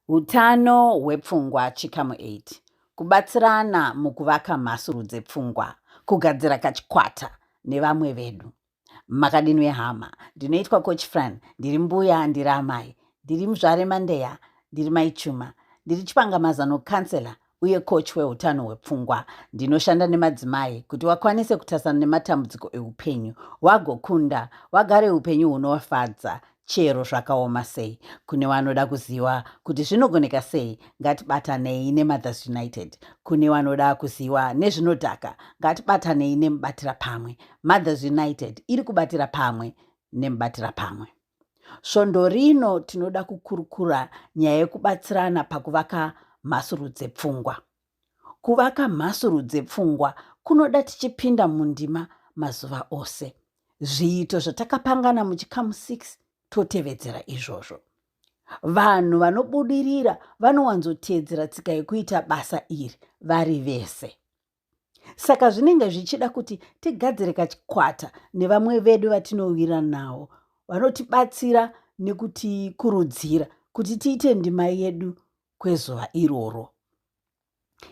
Utano hwepfungwa chikamu 8 kubatsirana mukuvaka mhasuru dzepfungwa kugadzira kachikwata nevamwe vedu makadini wehama ndinoitwa coach fran ndiri mbuya ndiri amai ndiri muzvare mandeya ndiri maichuma ndiri chipangamazano counselor uye coach weutano hwepfungwa ndinoshanda nemadzimai kuti wakwanise kutasana nematambudziko eupenyu wagokunda wagare upenyu hunowafadza chero zvakaoma sei kune wanoda kuziva kuti zvinogoneka sei ngatibatanei nemothers united kune wanoda kuziva nezvinodhaka ngatibatanei nemubatira pamwe mothers united iri kubatira pamwe nemubatira pamwe Svondo rino tinoda kukurukura nyaya yekubatsirana pakuvaka mhasuru dzepfungwa. Kuvaka mhasuru dzepfungwa kunoda tichipinda mundima mazuva ose. Zviito zvatakapangana muchikamu 6 totevedzera izvozvo. Vanhu vanobudirira vanowanzoteedzera tsika yekuita basa iri vari vese. saka zvinenge zvichida kuti tigadzire kachikwata nevamwe vedu vatinowira nawo vanotibatsira nekutikurudzira kuti tiite ndima yedu kwezuva iroro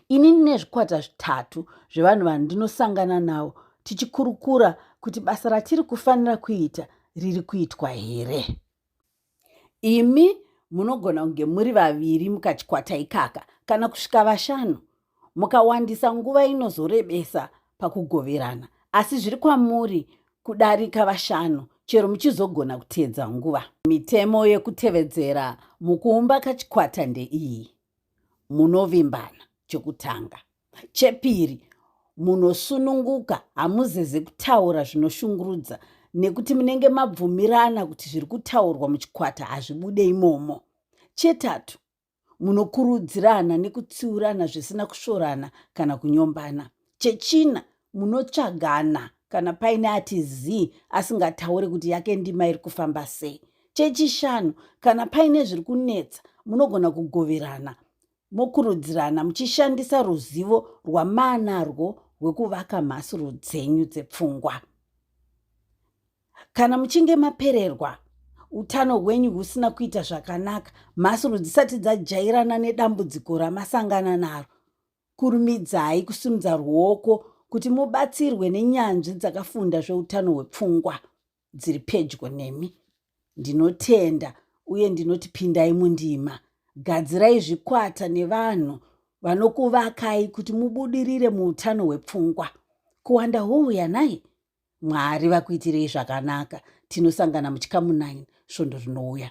ini ndine zvikwata zvitatu zvevanhu vandinosangana navo tichikurukura kuti basa ratiri kufanira kuita riri kuitwa here Imi munogona kunge muri vaviri mukachikwata ikaka kana kusvika vashanu. Mukawandisa nguva inozorebesa pakugoverana, asi zviri kwamuri kudarika vashanu chero muchizogona kuteedza nguva. Mitemo yekutevedzera mukuumba kachikwata ndeiyi. Munovimbana chokutanga. Chepiri, munosununguka, hamuzeze kutaura zvinoshungurudza nekuti munenge mabvumirana kuti zviri kutaurwa muchikwata hazvibude imomo. Chetatu, munokurudzirana nekutsiurana zvisina kusvorana kana kunyombana. Chechina, munotsvagana kana paine ati zii asingataure kuti yake ndima iri kufamba sei. Chechishanu, kana paine zviri kunetsa munogona kugoverana mokurudzirana muchishandisa ruzivo rwamaanarwo rwekuvaka mhasuru dzenyu dzepfungwa kana muchinge mapererwa utano hwenyu husina kuita zvakanaka mhasuru dzisati dzajairana nedambudziko ramasangana naro kurumidzai kusimudza ruoko kuti mubatsirwe nenyanzvi dzakafunda zveutano hwepfungwa dziri pedyo nemi ndinotenda uye ndinoti pindai mundima gadzirai zvikwata nevanhu vanokuvakai kuti mubudirire muutano hwepfungwa kuwanda houya nai mwari vakuitirei zvakanaka tinosangana muchikamu 9 svondo rinouya